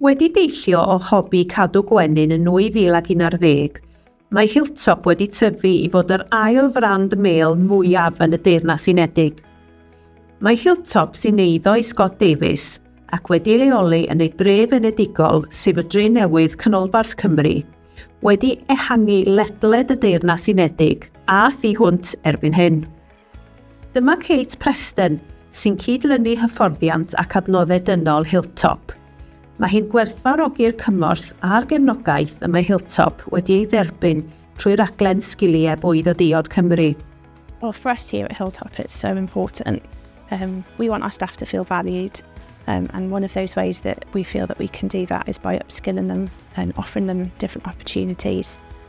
Wedi deillio o hobi cadw gwenyn yn 2011, mae Hilltop wedi tyfu i fod yr ail frand mêl mwyaf yn y Deyrnas Unedig. Mae Hilltop sy'n eiddo i Scott Davies ac wedi leoli yn ei dref enedigol, sef y Drenewydd, Canolbarth Cymru, wedi ehangu ledled y Deyrnas Unedig a thu hwnt erbyn hyn. Dyma Kate Preston, sy'n cyd-lynu hyfforddiant ac adnoddau dynol Hilltop. Mae hi'n gwerthfawrogi'r cymorth a'r gefnogaeth y mae Hilltop wedi ei dderbyn trwy raglen Sgiliau Bwyd o Diod Cymru. Well, for us here at Hilltop, it's so important. Um, we want our staff to feel valued, um, and one of those ways that we feel that we can do that is by upskilling them and offering them different opportunities.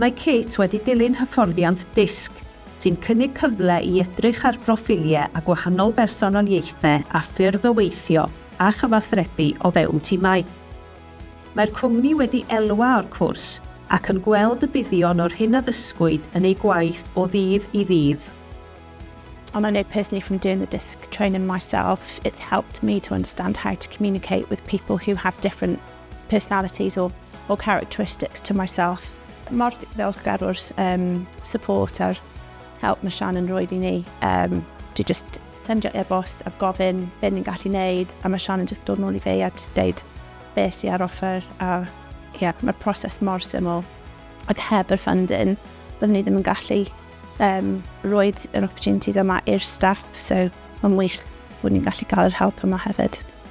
Mae Kate wedi dilyn hyfforddiant DISC, sy'n cynnig cyfle i edrych ar broffiliau a gwahanol bersonoliaethau a ffyrdd o weithio a chyfathrebu o fewn timau. Mae'r cwmni wedi elwa o'r cwrs ac yn gweld y buddion o'r hyn a ddysgwyd yn eu gwaith o ddydd i ddydd. And I know personally from doing the DISC training myself, it's helped me to understand how to communicate with people who have different personalities or, or characteristics to myself. Mor ddiolchgar o'r um, support a'r help mae Sian yn rhoi i ni. Um, dwi just sendio e-bost a gofyn be ni'n gallu neud a mae Sian yn just dod nôl i fe a just deud be sy'n ar offer a yeah, mae'r proses mor syml. Ac heb yr funding, byddwn ni ddim yn gallu um, roed yr opportunities yma i'r staff, so mae'n wych bod ni'n gallu cael yr help yma hefyd.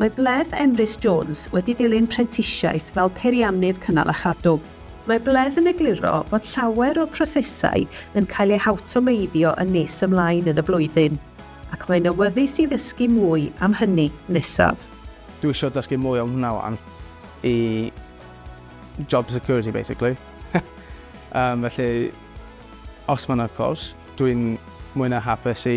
Mae Bledd Emrys Jones wedi dilyn prentisiaeth fel peiriannydd cynnal a chadw. Mae Bledd yn egluro bod llawer o'r prosesau yn cael eu hawtomeiddio yn nes ymlaen yn y flwyddyn, ac mae'n awyddus i ddysgu mwy am hynny nesaf. Dwi isio dysgu mwy am hwnna wan i job security basically. Felly, os mae yna cwrs, dwi'n mwy na hapus i